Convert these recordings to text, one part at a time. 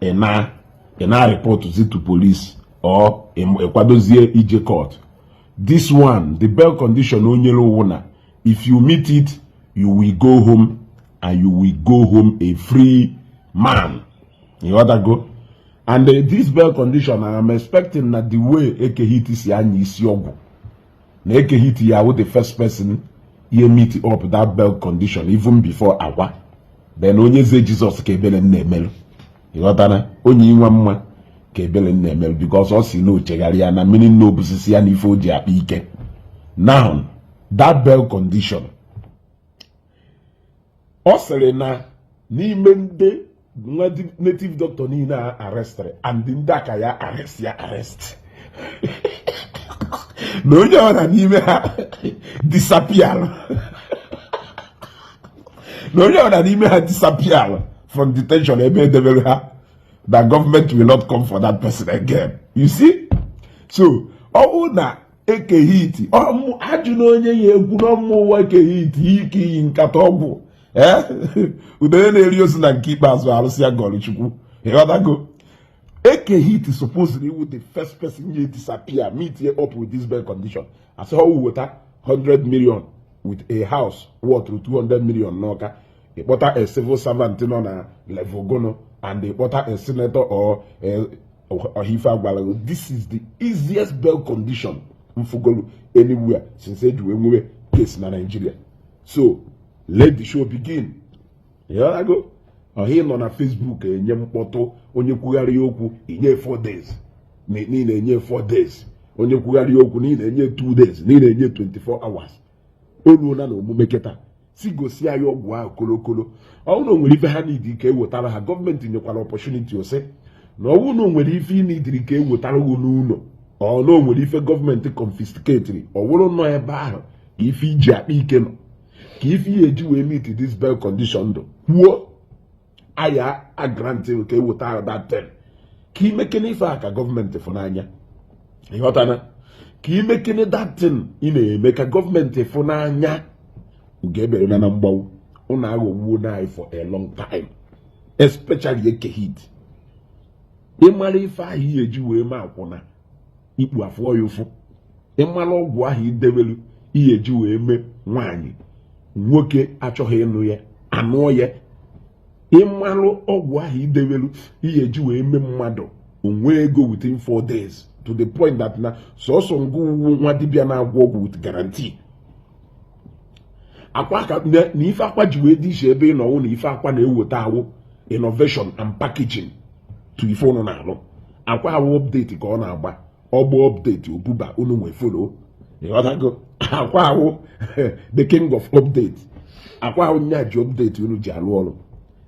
ị na ị na reportụzi to police or ị kwadozie ije court this one the bail condition o nyere wụ na if you meet it you will go home and you will go home a free man ị ghọtago and uh, this bail condition I am expecting na the way Eke Hit si anya isi ọgwụ na Eke Hit ya-awụ the first person ye meet up that bail condition even before Akwa then Onyeze Jesus ka ebere na-emelụ ị ghọtara onye inwe mma ka ebere na-emelụ because ọ sị na o chegharị ya na mmiri na o busisi ya na ife o ji akpa ike now that bail condition ọ sịrị na n'ime ndị nwa native doctor niile a arrestịrị and ndị a ka ya-arrest ya-arrest na onye ọra n'ime ha disappearụ na onye ọra n'ime ha disappearụ from detention ebe e debere ha that government will not come for that person again you see so ọ bụrụ na Eke Hit ajụla onye ya egwu n'ọmụ ụwa Eke Hit ike iyi nkata ọgwụ ee udene na-eri ozu na nke ikpeazụ arụsị agọrọ Chukwu ị ghọtago Eke Hit supposedly ị wụ the first person ye disappear meet ye up with this bail condition a sị ha weta 100 million with a house worth 200 million n'Ọka ị kpọta a civil servant nọ na level gụnụ and ị kpọta a senator or ọhaife agwalago this is the easiest bail condition m fụgolu anywhere since e ji wee nwewe case na Nigeria so let the show begin ị ghọtago ọha ị nọ na Facebook enye mkpọtụ onye kwugharị okwu i nye 4 days ị na-enye 4 days onye kwugharị okwu ị na-enye 2 days ị na-enye 24 hours o ruola na omume kịta sị gosi anyị ọgwụ ahụ kolokolo ọ wụ na o nwere ife ha need ka e wetara ha government nyekwara opportunity ọ sị na ọ wụ na o nwere ife ị needịrị ka e wetara gị n'ụlọ or na o nwere ife government confiscateịrị ọ wụrụ nọ ebe ahụ ka ife i ji akpa ike nọ ka ife ị ye-eji wee meet this bail condition dụ kwuo a ya-agrantị ka e wetara gị that thing ka i mekene ife a ka government fụ n'anya ị ghọtana ka i mekene that thing ị na-eme ka government fụ n'anya ugo eberena na mgbagbu ụnụ aghọgbuona anyị for a long time especially Eke Hit ị mara ife ahụ ihe eji wee ma akwụna ikpu afụọ ya ụfụ ị mara ọgwụ ahụ i debelu ihe ji wee mee nwaanyị nwoke achọghị ịnụ ya anụọ ya ị malụ ọgwụ ahụ i debelu ihe ji wee mee mmadụ o nwee ego within four days to the point that na sọsọ ngị wụ nwa dibịa na-agwọ ọgwụ with guarantee akwa ka na ife akwa ji wee dị iche ebe ị nọ wụ na ife akwa na-eweta awụ innovation and packaging to ife ụnụ na-alụ akwa wụ update ka ọ na-agba ọ gbaa update o buba unu wee follow ịghọtago akwa wụ the king of update akwa wụ nya ji update unu ji alụ ọrụ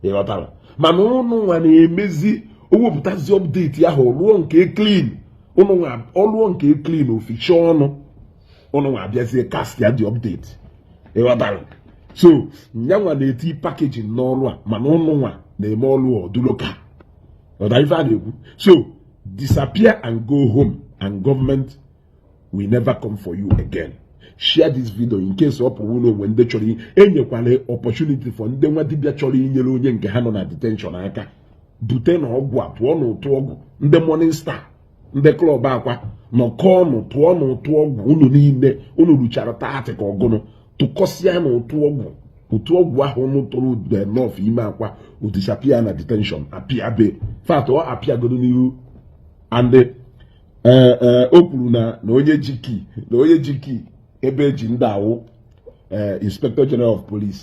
ịghọtara mana ụnụ nwa na-emezi o wepụtazi update ahụ rụọ nke clean ụnụ nwa ọ lụọ nke clean o ficha ọnụ ụnụ nwa abịazie cast ya the update ịghọtara so nya nwa na-eti packaging n'ọrụ a mana ụnụ nwa na-eme ọrụ ọ dị local ghọta ife a na-ekwu so disappear and go home and government will never come for you again share this video in case ọ bụrụ na o nwe ndị chọrọ enyekwala opportunity for ndị nwa dibịa chọrọ inyere onye nke ha nọ na detention aka bute nụ ọgwụ a tụọ nụ ụtụ ọgwụ ndị morning star ndị club akwa nọkọọ nụ tụọ nụ ụtụ ọgwụ unu niile unu ruchara thirty ka ọ gụnụ tụkọsịa nụ ụtụ ọgwụ ụtụ ọgwụ ahụ ụnụ tụrụ ọ dị enough ime akwa o disappear na detention appear be fact ọ appear godu n'ihu and e, e, o kwuru na na onye ji key na onye ji key ebe e ji ndị a wụ e, inspector general of police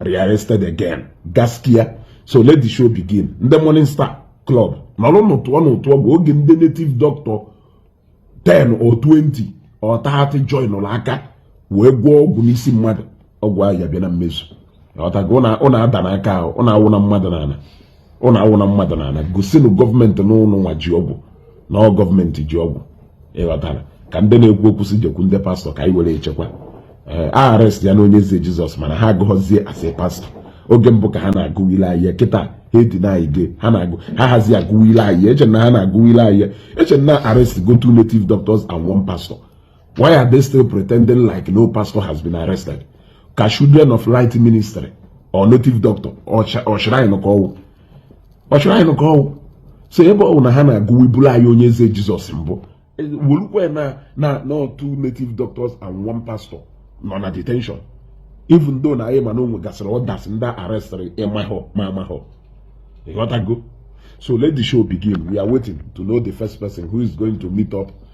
rearrested again gaskiya so let the show begin ndị morning star club nọrọ nụ tụọ nụ ụtụ ọgwụ oge ndị native doctor 10 or 20 or 30 joinụlụ aka wee gwọọ ọgwụ n'isi mmadụ ọgwụ ahụ ya-abịa na mmezu ịghọtago ụnụ adana aka ahụ ụnụ awụna mmadụ n'ana ụnụ awụna mmadụ n'ana gosinụ government na ụnụ nwa ji ọgwụ na ọ government ji ọgwụ ịghọtara ka ndị na-ekwu okwu sị jekwu ndị pastor ka anyị were echekwa ee eh, arrestiana onyeze jesus mana ha agụghọzie as a pastor oge mbụ ka ha na-agụilu anyị ya kịta ha edina anyị gị ha na-agụ ha hazi agụilu anyị ya e che na ha na-agụilu anyị ya e che na arest go two native doctors and one pastor Why are they still pretending like no pastor has been arrested? Ka children of light ministry ọ native doctor ọ shrine ka ọ wụ ọ shrine ka ọ wụ so ebe ọ wụ na ha na-agụiburu anyị Onyeze Jesus mbụ e, werukwe na na na two native doctors and one pastor nọ na detention even though na anyị ma na o nwegasịrị others ndị a arrestịrị ịmahọ ma amahọ ịghọtago so let the show begin we are waiting to know the first person who is going to meet up